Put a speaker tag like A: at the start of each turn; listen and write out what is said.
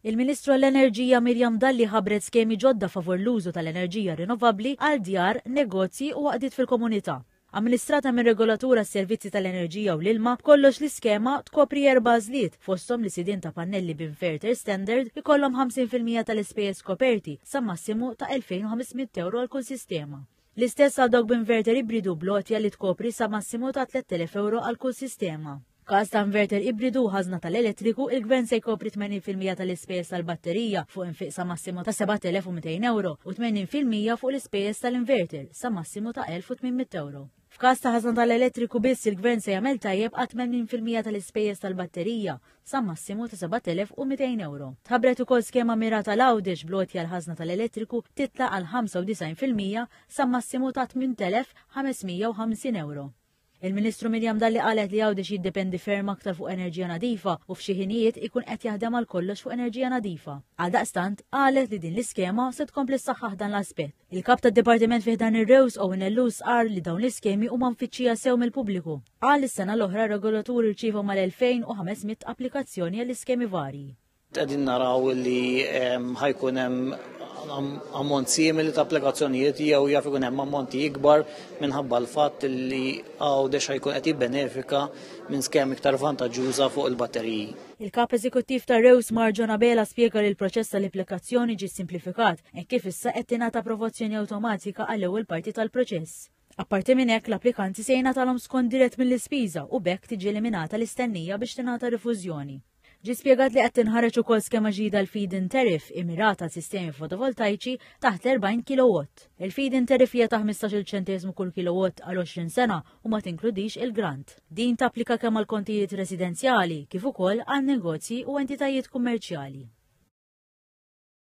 A: Il-Ministru għall-Enerġija Miriam Dalli ħabbret skemi ġodda favur l-użu tal-enerġija rinnovabbli għal djar, negozji u għaqdiet fil-komunità. Amministrata minn Regolatur għas-Servizzi tal-Enerġija u l-Ilma, b'kollox l-iskema tkopri erba' għażliet, fosthom li sidien ta' pannelli b'inverter standard ikollhom 50 fil-mija tal-ispejjeż koperti sa massimu ta' 2,500 ewro għal kull sistema. L-istess għal dawk b'inverter ibridu bl-għotja li tkopri sa massimu ta' 3,000 ewro għal kull sistema. F'każ ta' inverter ibridu u ħażna tal-elettriku, il-Gvern se jkopri 80 fil-mija tal-ispejjeż tal-batterija fuq infiq sa massimu ta' 7,200 ewro u 80 fil-mija fuq l-ispejjeż tal-inverter sa massimu ta' 1,800 ewro. F'każ ta' ħażna tal-elettriku biss, il-Gvern se jagħmel tajjeb għat-80 fil-mija tal-ispejjeż tal-batterija sa massimu ta' 7,200 ewro. Tħabbret ukoll skema mirata l-Għawdex bl-għotja l-ħażna tal-elettriku titla' għal 95 fil-mija sa massimu ta' 8,550 ewro. Il-Ministru Miriam Dalli qalet li Għawdex jiddependi ferm aktar fuq enerġija nadifa u f'xi ħinijiet ikun qed jaħdem għal kollox fuq enerġija nadifa. Għaldaqstant, qalet li din l-iskema se tkompli ssaħħaħ dan l-aspett. Il-Kap tad-Dipartiment fi ħdan ir-REWS Owen Ellus qal li dawn l-iskemi huma mfittxija sew mill-pubbliku. Qal li s-sena l-oħra r-regolatur irċieva mal-2,500 applikazzjoni għall-iskemi varji. Qegħdin naraw
B: li ehm, ħajkun hemm ammont simili ta' applikazzjonijiet jew jaf ikun hemm ammonti ikbar minħabba l-fatt li għaw dexa jkun qed jibbenefika minn skemi iktar vantaġġuża fuq il-batteriji. Il-Kap Eżekuttiv
A: ta' Rews Marġon Abela spjega li l-proċess tal-applikazzjoni ġie simplifikat hekk kif issa qed tingħata approvazzjoni awtomatika għall-ewwel parti tal-proċess. Apparti minn hekk, l-applikanti se jingħatalhom skont dirett mill-ispiża u b'hekk tiġi eliminata l-istennija biex tingħata rifużjoni. Ġie spjegat li qed tinħareġ ukoll skema ġdida l-feed-in tariff immirata għal sistemi fotovoltajċi taħt l-40 kilowatt. Il-feed-in tariff hija ta' 15-il ċenteżmu kull kilowatt għal 20 sena u ma tinkludix il-grant. Din tapplika kemm għal kontijiet residenzjali kif ukoll għal negozji u entitajiet kummerċjali.